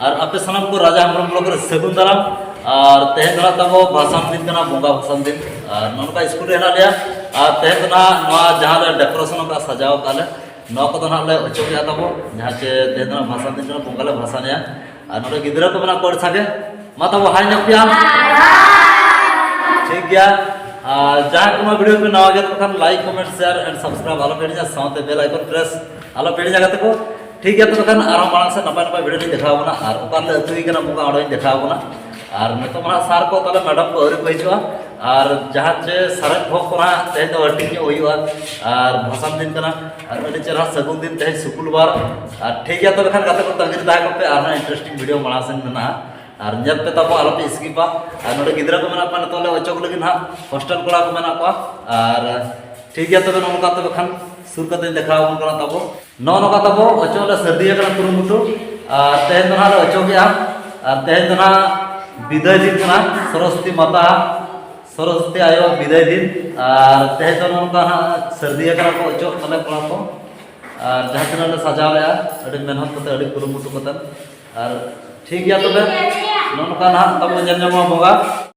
ᱟᱨ ᱟᱯᱮ ᱥᱟᱱᱟᱢ ᱠᱚ ᱨᱟᱡᱟ ᱦᱮᱢᱵᱨᱚᱢ ᱵᱞᱚᱠ ᱨᱮ ᱥᱟᱹᱜᱩᱱ ᱫᱟᱨᱟᱢ ᱟᱨ ᱛᱮᱦᱮᱧ ᱫᱚ ᱛᱟᱵᱚ ᱵᱷᱟᱥᱟᱱ ᱫᱤᱱ ᱠᱟᱱᱟ ᱵᱚᱸᱜᱟ ᱵᱷᱟᱥᱟᱱ ᱫᱤᱱ ᱟᱨ ᱱᱚᱝᱠᱟ ᱥᱠᱩᱞ ᱨᱮ ᱦᱮᱱᱟᱜ ᱞᱮᱭᱟ ᱟᱨ ᱛᱮᱦᱮᱧ ᱫᱚ ᱱᱚᱣᱟ ᱡᱟᱦᱟᱸ ᱞᱮ ᱰᱮᱠᱳᱨᱮᱥᱚᱱ ᱟᱠᱟᱫ ᱥᱟᱡᱟᱣ ᱟᱠᱟᱫ ᱞᱮ ᱱᱚᱣᱟ ᱠᱚᱫᱚ ᱱᱟᱦᱟᱜ ᱞᱮ ᱚᱪᱚᱜ ᱜᱮᱭᱟ ᱛᱟᱵᱚ ᱡᱟᱦᱟᱸ ᱪᱮ ᱛᱮᱦᱮᱧ ᱫᱚ ᱵᱷᱟᱥᱟᱱ ᱫᱤᱱ ᱠᱟᱱᱟ ᱵᱚᱸᱜᱟ ᱞᱮ ᱵᱷᱟᱥᱟᱱᱮᱭᱟ ᱟᱨ ᱱᱚᱰᱮ ᱜᱤᱫᱽᱨᱟᱹ ᱠᱚ ᱢᱮᱱᱟᱜ ᱠᱚᱣᱟ ᱟᱹᱰᱤ ᱥᱟᱸᱜᱮ ᱢᱟ ᱛᱟᱵᱚ ᱦᱟᱭ ᱧᱚᱜ ᱯᱮᱭᱟ ᱴᱷᱤᱠ ᱜᱮᱭᱟ ᱟᱨ ᱡᱟᱦᱟᱸᱭ ᱠᱚ ᱱᱚᱣᱟ ᱵᱷᱤᱰᱤᱭᱳ ᱯᱮ ᱱᱟᱣᱟ ᱜᱮᱭᱟ ᱛᱚᱠᱷᱟᱱ like comment share and subscribe ᱟᱞᱚ ᱯᱮ ᱦᱤᱲᱤᱧᱟ ᱥᱟᱶᱛᱮ ᱵᱮᱞ ᱟᱭᱠᱚᱱ ᱯᱨᱮᱥ ᱟᱞᱚ ᱯᱮ ᱦᱤᱲᱤᱧᱟ ᱜᱟᱛᱮ ᱠᱚ ᱴᱷᱤᱠ ᱜᱮᱭᱟ ᱛᱚᱵᱮ ᱠᱷᱟᱱ ᱟᱨᱦᱚᱸ ᱢᱟᱲᱟᱝ ᱥᱮᱫ ᱱᱟᱯᱟᱭ ᱱᱟᱯᱟᱭ ᱵᱷᱤᱰᱤᱭᱳ ᱞᱤᱧ ᱫᱮᱠᱷᱟᱣ ᱵᱚᱱᱟ ᱟᱨ ᱚᱠᱟᱨᱮᱞᱮ ᱟᱹᱛᱩᱭ ᱠᱟᱱᱟ ᱵᱚᱸᱜᱟ ᱚᱸᱰᱮᱧ ᱫᱮᱠᱷᱟᱣ ᱵᱚᱱᱟ ᱟᱨ ᱱᱤᱛᱚᱜ ᱢᱟ ᱥᱟᱨ ᱠᱚ ᱛᱟᱦᱚᱞᱮ ᱢᱮᱰᱟᱢ ᱠᱚ ᱟᱹᱣᱨᱤ ᱠᱚ ᱦᱤᱡᱩᱜᱼᱟ ᱟᱨ ᱡᱟᱦᱟᱸ ᱪᱮ ᱥᱟᱨᱮᱡ ᱵᱷᱚᱜ ᱠᱚ ᱱᱟᱦᱟᱜ ᱛᱮᱦᱮᱧ ᱫᱚ ᱦᱟᱹᱴᱤᱧ ᱧᱚᱜ ᱦᱩᱭᱩᱜᱼᱟ ᱟᱨ ᱵᱷᱟᱥᱟᱱ ᱫᱤᱱ ᱠᱟᱱᱟ ᱟᱨ ᱟᱹᱰᱤ ᱪᱮᱦᱨᱟ ᱥᱟᱹᱜᱩᱱ ᱫᱤᱱ ᱛᱮᱦᱮᱧ ᱥᱩᱠᱩᱞ ᱵᱟᱨ ᱟᱨ ᱴᱷᱤᱠ ᱜᱮᱭᱟ ᱛᱚᱵᱮ ᱠᱷᱟᱱ ᱜᱟᱛᱮ ᱠᱚ ᱛᱟᱹᱜᱤ ᱨᱮ ᱛᱟᱦᱮᱸ ᱠᱚᱯᱮ ᱟᱨᱦᱚᱸ ᱤᱱᱴᱟᱨᱮᱥᱴᱤᱝ ᱵᱷᱤᱰᱤᱭᱳ ᱢᱟᱲᱟᱝ ᱥᱮᱱ ᱢᱮᱱᱟᱜᱼᱟ ᱟᱨ ᱧᱮᱞ ᱯᱮ ᱛᱟᱵᱚ ᱟᱞᱚᱯᱮ ᱥᱠᱤᱯᱟ ᱟᱨ ᱱᱚᱰᱮ ᱜᱤᱫᱽᱨᱟᱹ ᱠᱚ ᱢᱮᱱᱟᱜ ᱠᱚᱣᱟ ᱱᱤᱛᱚᱜ ᱞᱮ ᱚᱪᱚᱜ ᱞᱟᱹᱜᱤᱫ ᱱᱟᱦᱟᱜ ᱦᱳᱥᱴᱮᱞ ᱠᱚᱲᱟ ᱠᱚ ᱢᱮᱱᱟᱜ ᱠᱚᱣᱟ ᱟᱨ ᱴᱷᱤᱠ ᱜᱮᱭᱟ ᱛᱚᱵᱮ ᱱᱚᱝᱠᱟ ᱛᱚᱵᱮ ᱠᱷᱟᱱ ᱥᱩᱨ ᱠᱟᱛᱮᱧ ᱫᱮᱠᱷᱟᱣ ᱟᱵᱚᱱ ᱠᱟᱱᱟ ᱛᱟᱵᱚ ᱱᱚᱜᱼᱚ ᱱᱚᱝᱠᱟ ᱛᱟᱵᱚ ᱚᱪᱚᱜ ᱞᱮ ᱥᱟᱹᱨᱫᱤ ᱟᱠᱟᱱᱟ ᱠᱩᱨᱩᱢᱩᱴᱩ ᱟᱨ ᱛᱮᱦᱮᱧ ᱫᱚ ᱱᱟᱦᱟᱜ ᱞᱮ ᱚᱪᱚᱜᱮᱜᱼᱟ ᱟᱨ ᱛᱮᱦᱮᱧ ᱫᱚ ᱱᱟᱦᱟᱜ ᱵᱤᱫᱟᱹᱭ ᱫᱤᱱ ᱠᱟᱱᱟ ᱥᱚᱨᱚᱥᱚᱛᱤ ᱢᱟᱛᱟ ᱥᱚᱨᱚᱥᱚᱛᱤ ᱟᱭᱳ ᱵᱤᱫᱟᱹᱭ ᱫᱤᱱ ᱟᱨ ᱛᱮᱦᱮᱧ ᱫᱚ ᱱᱚᱝᱠᱟ ᱱᱟᱦᱟᱜ ᱥᱟᱹᱨᱫᱤ ᱟᱠᱟᱱᱟ ᱠᱚ ᱚᱪᱚᱜ ᱛᱟᱞᱮ ᱠᱚᱲᱟ ᱠᱚ ᱟᱨ ᱡᱟᱦᱟᱸ ᱛᱤᱱᱟᱹᱜ ᱞᱮ ᱥᱟᱡᱟᱣ ᱞᱮᱜᱼᱟ ᱟᱹᱰᱤ ᱢᱮᱦᱱᱚᱛ ᱠᱟᱛᱮ ᱟᱹᱰᱤ ᱠᱩᱨᱩᱢᱩᱴᱩ ᱠᱟᱛᱮ ᱟᱨ ᱴᱷᱤᱠ ᱜᱮᱭᱟ ᱛᱚᱵᱮ ᱱᱚᱜᱼᱚ ᱱᱚᱝᱠᱟ ᱱᱟᱦᱟᱜ ᱛᱟᱵᱚ ᱧᱮᱞ ᱧᱟᱢᱚᱜᱼᱟ ᱵᱚᱸᱜᱟ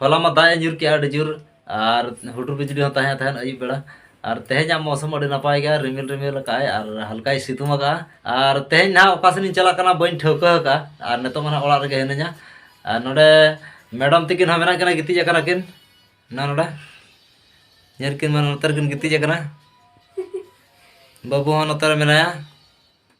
ᱦᱚᱞᱟ ᱢᱟ ᱫᱟᱜ ᱮ ᱧᱩᱨ ᱠᱮᱜᱼᱟ ᱟᱹᱰᱤ ᱡᱳᱨ ᱟᱨ ᱦᱩᱰᱩᱨ ᱵᱤᱡᱽᱞᱤ ᱦᱚᱸ ᱛᱟᱦᱮᱸ ᱛᱟᱦᱮᱸᱫ ᱟᱹᱭᱩᱵ ᱵᱮᱲᱟ ᱟᱨ ᱛᱮᱦᱮᱧᱟᱜ ᱢᱚᱥᱚᱢ ᱟᱹᱰᱤ ᱱᱟᱯᱟᱭ ᱜᱮᱭᱟ ᱨᱤᱢᱤᱞ ᱨᱤᱢᱤᱞ ᱟᱠᱟᱫᱼᱟᱭ ᱟᱨ ᱦᱟᱞᱠᱟᱭ ᱥᱤᱛᱩᱝ ᱟᱠᱟᱫᱼᱟ ᱟᱨ ᱛᱮᱦᱮᱧ ᱱᱟᱦᱟᱜ ᱚᱠᱟ ᱥᱮᱫ ᱤᱧ ᱪᱟᱞᱟᱜ ᱠᱟᱱᱟ ᱵᱟᱹᱧ ᱴᱷᱟᱹᱣᱠᱟᱹ ᱟᱠᱟᱫᱼᱟ ᱟᱨ ᱱᱤᱛᱚᱜ ᱢᱟ ᱱᱟᱦᱟᱜ ᱚᱲᱟᱜ ᱨᱮᱜᱮ ᱦᱤᱱᱟᱹᱧᱟ ᱟᱨ ᱱᱚᱰᱮ ᱢᱮᱰᱟᱢ ᱛᱤᱠᱤᱱ ᱦᱚᱸ ᱢᱮᱱᱟᱜ ᱠᱤᱱᱟ ᱜᱤᱛᱤᱡ ᱟᱠᱟᱱᱟ ᱠᱤᱱ ᱱᱟ ᱱᱚᱰᱮ ᱧᱮᱞ ᱠᱤᱱ ᱢᱟ ᱱᱚᱛᱮ ᱨᱮᱠᱤᱱ ᱜᱤᱛᱤᱡ ᱟᱠᱟᱱᱟ ᱵᱟᱹᱵᱩ ᱦᱚᱸ ᱱᱚᱛᱮ ᱨᱮ ᱢᱮᱱᱟᱭᱟ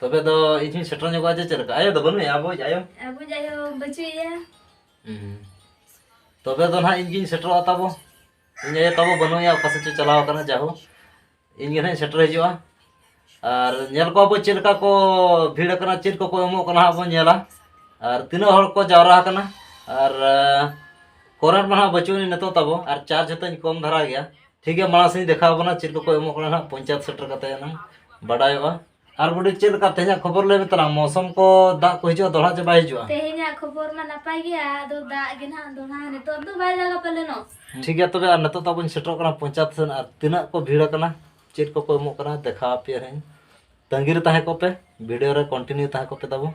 ᱛᱚᱵᱮ ᱫᱚ ᱤᱧ ᱦᱚᱸᱧ ᱥᱮᱴᱮᱨ ᱧᱚᱜᱚᱜᱼᱟ ᱡᱮ ᱪᱮᱫ ᱞᱮᱠᱟ ᱟᱭᱳ ᱫᱚ ᱵᱟᱹᱱᱩᱭᱟ ᱟᱵᱚᱭᱤᱡ ᱟᱭᱳ ᱟᱵᱚ ᱡᱟᱭᱳ ᱵᱟᱹᱪᱩᱭᱟ ᱛᱚᱵᱮ ᱫᱚ ᱱᱟᱦᱟᱜ ᱤᱧ ᱜᱤᱧ ᱥᱮᱴᱮᱨᱚᱜᱼᱟ ᱛᱟᱵᱚ ᱤᱧ ᱟᱭᱳ ᱛᱟᱵᱚ ᱵᱟᱹᱱᱩᱭᱟ ᱚᱠᱟ ᱥᱮᱫ ᱪᱚ ᱪᱟᱞᱟᱣ ᱟᱠᱟᱱᱟ ᱡᱟᱦᱳ ᱤᱧ ᱜᱮ ᱱᱟᱦᱟᱜ ᱤᱧ ᱥᱮᱴᱮᱨ ᱦᱤᱡᱩᱜᱼᱟ ᱟᱨ ᱧᱮᱞ ᱠᱚᱣᱟ ᱵᱚ ᱪᱮᱫ ᱞᱮᱠᱟ ᱠᱚ ᱵᱷᱤᱲ ᱟᱠᱟᱱᱟ ᱪᱮᱫ ᱠᱚᱠᱚ ᱮᱢᱚᱜ ᱠᱟᱱᱟ ᱦᱟᱸᱜ ᱵᱚᱱ ᱧᱮᱞᱟ ᱟᱨ ᱛᱤᱱᱟᱹᱜ ᱦᱚᱲ ᱠᱚ ᱡᱟᱣᱨᱟ ᱟᱠᱟᱱᱟ ᱟᱨ ᱠᱚᱨᱮᱱᱴ ᱢᱟ ᱦᱟᱸᱜ ᱵᱟᱹᱪᱩᱜ ᱟᱹᱱᱤᱡ ᱱᱤᱛᱚᱜ ᱛᱟᱵᱚ ᱟᱨ ᱪᱟᱨᱡᱽ ᱦᱚᱸᱛᱟᱹᱧ ᱠᱚᱢ ᱫᱷᱟᱨᱟ ᱜᱮᱭᱟ ᱴᱷᱤᱠ ᱜᱮᱭᱟ ᱢᱟᱲᱟᱝ ᱥᱮᱫ ᱤᱧ ᱫᱮᱠᱷᱟᱣ ᱟᱵᱚᱱᱟ ᱪᱮᱫ ᱠᱚᱠᱚ ᱮᱢᱚᱜ ᱠᱟᱱᱟ ᱦᱟᱸᱜ ᱯᱚᱧᱪᱟᱭᱮᱛ ᱥᱮᱴᱮᱨ ᱠᱟᱛᱮ ᱮᱱᱟᱝ ᱵᱟᱰᱟᱭᱚᱜᱼᱟ ᱟᱨ ᱵᱩᱰᱤ ᱪᱮᱫ ᱞᱮᱠᱟ ᱛᱮᱦᱮᱧᱟᱜ ᱠᱷᱚᱵᱚᱨ ᱞᱟᱹᱭ ᱢᱮ ᱛᱟᱞᱟᱝ ᱢᱚᱥᱚᱢ ᱠᱚ ᱫᱟᱜ ᱠᱚ ᱦᱤᱡᱩᱜᱼᱟ ᱫᱚᱲᱦᱟ ᱪᱮ ᱵᱟᱭ ᱦᱤᱡᱩᱜᱼᱟ ᱛᱮᱦᱮᱧᱟᱜ ᱠᱷᱚᱵᱚᱨ ᱢᱟ ᱱᱟᱯᱟᱭ ᱜᱮᱭᱟ ᱟᱫᱚ ᱫᱟᱜ ᱜᱮ ᱱᱟᱦᱟᱜ ᱫᱚᱲᱦᱟ ᱱᱤᱛᱚᱜ ᱫᱚ ᱵᱟᱭ ᱫᱟᱜᱟ ᱯᱟᱞᱮᱱᱚ ᱴᱷᱤᱠ ᱜᱮᱭᱟ ᱛᱚᱵᱮ ᱟᱨ ᱱᱤᱛᱚᱜ ᱫᱚ ᱟᱵᱚᱧ ᱥᱮᱴᱮᱨᱚᱜ ᱠᱟᱱᱟ ᱯᱚᱧᱪᱟᱭᱮᱛ ᱥᱮᱱ ᱟᱨ ᱛᱤᱱᱟᱹᱜ ᱠᱚ ᱵᱷᱤᱲ ᱟᱠᱟᱱᱟ ᱪᱮᱫ ᱠᱚᱠᱚ ᱮᱢᱚᱜ ᱠᱟᱱᱟ ᱫᱮᱠᱷᱟᱣ ᱟᱯᱮᱭᱟᱹᱧ ᱛᱟᱺᱜᱤ ᱨᱮ ᱛᱟᱦᱮᱸ ᱠᱚᱜ ᱯᱮ ᱵᱷᱤᱰᱤᱭᱳ ᱨᱮ ᱠᱚᱱᱴᱤᱱᱤᱭᱩ ᱛᱟᱦᱮᱸ ᱠᱚᱜ ᱯᱮ ᱛᱟᱵᱚ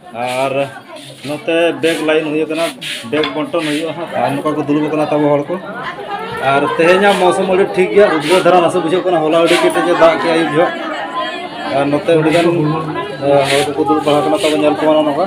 ᱟᱨ ᱱᱚᱛᱮ ᱵᱮᱜᱽ ᱞᱟᱭᱤᱱ ᱦᱩᱭᱩᱜ ᱠᱟᱱᱟ ᱵᱮᱜᱽ ᱵᱚᱱᱴᱚᱱ ᱦᱩᱭᱩᱜᱼᱟ ᱦᱟᱸᱜ ᱟᱨ ᱱᱚᱝᱠᱟ ᱠᱚ ᱫᱩᱲᱩᱵ ᱠᱟᱱᱟ ᱛᱟᱵᱚ ᱦᱚᱲ ᱠᱚ ᱟᱨ ᱛᱮᱦᱮᱧᱟᱜ ᱢᱚᱣᱥᱚᱢ ᱟᱹᱰᱤ ᱴᱷᱤᱠ ᱜᱮᱭᱟ ᱩᱫᱽᱜᱟᱹᱨ ᱫᱷᱟᱨᱟ ᱱᱟᱥᱮ ᱵᱩᱡᱷᱟᱹᱜ ᱠᱟᱱᱟ ᱦᱚᱞᱟ ᱟᱹᱰᱤ ᱠᱮᱴᱮᱡ ᱮ ᱫᱟᱜ ᱠᱮᱜᱼᱟ ᱟᱹᱭᱩᱵ ᱡᱚᱦᱚᱜ ᱟᱨ ᱱᱚᱛᱮ ᱟᱹᱰᱤ ᱜᱟᱱ ᱦᱚᱲ ᱠᱚᱠᱚ ᱫᱩᱲᱩᱵ ᱵᱟᱲᱟ ᱠᱟᱱᱟ ᱛᱟᱵᱚ ᱧᱮᱞ ᱠᱚᱣᱟ ᱱᱚᱝᱠᱟ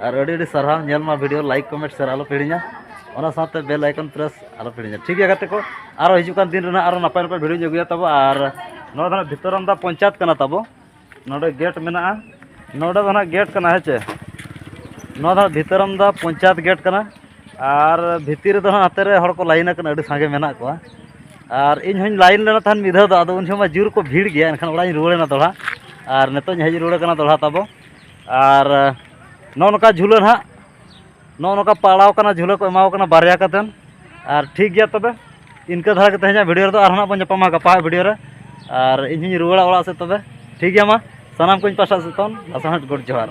ᱟᱨ ᱟᱹᱰᱤ ᱟᱹᱰᱤ ᱥᱟᱨᱦᱟᱣ ᱧᱮᱞ ᱢᱟ ᱵᱷᱤᱰᱤᱭᱳ ᱞᱟᱭᱤᱠ ᱠᱚᱢᱮᱱᱴ ᱥᱮᱭᱟᱨ ᱟᱞᱚ ᱯᱮ ᱦᱤᱲᱤᱧᱟ ᱚᱱᱟ ᱥᱟᱶᱛᱮ ᱵᱮᱞ ᱟᱭᱠᱚᱱ ᱯᱨᱮᱥ ᱟᱞᱚ ᱯᱮ ᱦᱤᱲᱤᱧᱟ ᱴᱷᱤᱠ ᱜᱮᱭᱟ ᱜᱟᱛᱮ ᱠᱚ ᱟᱨᱚ ᱦᱤᱡᱩᱜ ᱠᱟᱱ ᱫᱤᱱ ᱨᱮᱱᱟᱜ ᱟᱨᱚ ᱱᱟᱯᱟᱭ ᱱᱟᱯᱟᱭ ᱵᱷᱤᱰᱤᱭᱳᱧ ᱟᱹᱜᱩᱭᱟ ᱛᱟᱵᱚ ᱟᱨ ᱱᱚᱣᱟ ᱫᱚ ᱦᱟᱸᱜ ᱵᱷᱤᱛᱚᱨᱟᱢᱫᱟ ᱯᱚᱧᱪᱟᱭᱮᱛ ᱠᱟᱱᱟ ᱛᱟᱵᱚ ᱱᱚᱰᱮ ᱜᱮᱴ ᱢᱮᱱᱟᱜᱼᱟ ᱱᱚᱰᱮ ᱫᱚ ᱦᱟᱸᱜ ᱜᱮᱴ ᱠᱟᱱᱟ ᱦᱮᱸ ᱪᱮ ᱱᱚᱣᱟ ᱫᱚ ᱦᱟᱸᱜ ᱵᱷᱤᱛᱚᱨᱟᱢᱫᱟ ᱯᱚᱧᱪᱟᱭᱮᱛ ᱜᱮᱴ ᱠᱟᱱᱟ ᱟᱨ ᱵᱷᱤᱛᱤᱨ ᱨᱮᱫᱚ ᱦᱟᱸᱜ ᱦᱟᱛᱮ ᱨᱮ ᱦᱚᱲ ᱠᱚ ᱞᱟᱭᱤᱱ ᱟᱠᱟᱱᱟ ᱟᱹᱰᱤ ᱥᱟᱸᱜᱮ ᱢᱮᱱᱟᱜ ᱠᱚᱣᱟ ᱟᱨ ᱤᱧ ᱦᱚᱧ ᱞᱟᱭᱤᱱ ᱞᱮᱱᱟ ᱛᱟᱦᱮᱱ ᱢᱤᱫ ᱫᱷᱟᱣ ᱫᱚ ᱟᱫᱚ ᱩᱱ ᱡᱚᱠᱷᱚᱱ ᱢᱟ ᱡᱳᱨ ᱠᱚ ᱵᱷᱤᱲ ᱜᱮᱭᱟ ᱮᱱᱠᱷᱟᱱ ᱚᱲᱟᱜ ᱤᱧ ᱨᱩᱣᱟᱹᱲᱮᱱᱟ ᱫᱚᱦᱲᱟ ᱟᱨ ᱱᱤᱛᱚᱜ ᱤᱧ ᱦᱮᱡ ᱨᱩᱣᱟᱹᱲ ᱠᱟᱱᱟ ᱫᱚᱦᱲᱟ ᱛᱟᱵᱚ ᱟᱨ ᱱᱚᱜᱼᱚ ᱱᱚᱝᱠᱟ ᱡᱷᱩᱞᱟᱹ ᱱᱟᱦᱟᱜ ᱱᱚᱜᱼᱚ ᱱᱚᱝᱠᱟ ᱯᱟᱲᱟᱣ ᱠᱟᱱᱟ ᱡᱷᱩᱞᱟᱹ ᱠᱚ ᱮᱢᱟᱣ ᱠᱟᱱᱟ ᱵᱟᱨᱭᱟ ᱠᱟᱛᱮᱫ ᱟᱨ ᱴᱷᱤᱠ ᱜᱮᱭᱟ ᱛᱚᱵᱮ ᱤᱱᱠᱟᱹ ᱫᱷᱟᱨᱟ ᱜᱮ ᱛᱮᱦᱮᱧᱟᱜ ᱵᱷᱤᱰᱤᱭᱳ ᱨᱮᱫᱚ ᱟᱨᱦᱚᱸ ᱱᱟᱦᱟᱜ ᱵᱚᱱ ᱧᱟᱯᱟᱢᱟ ᱜᱟᱯᱟᱣᱟᱜ ᱵᱷᱤᱰᱤᱭᱳ ᱨᱮ ᱟᱨ ᱤᱧ ᱦᱚᱧ ᱨᱩᱣᱟᱹᱲᱟ ᱚᱲᱟᱜ ᱥᱮᱫ ᱛᱚᱵᱮ ᱴᱷᱤᱠ ᱜᱮᱭᱟ ᱢᱟ ᱥᱟᱱᱟᱢ ᱠᱚᱧ ᱯᱟᱥᱴᱟ ᱥᱮᱫ ᱠᱷᱚᱱ ᱟᱥᱟᱲ ᱜᱚᱰ ᱡᱚᱦᱟᱨ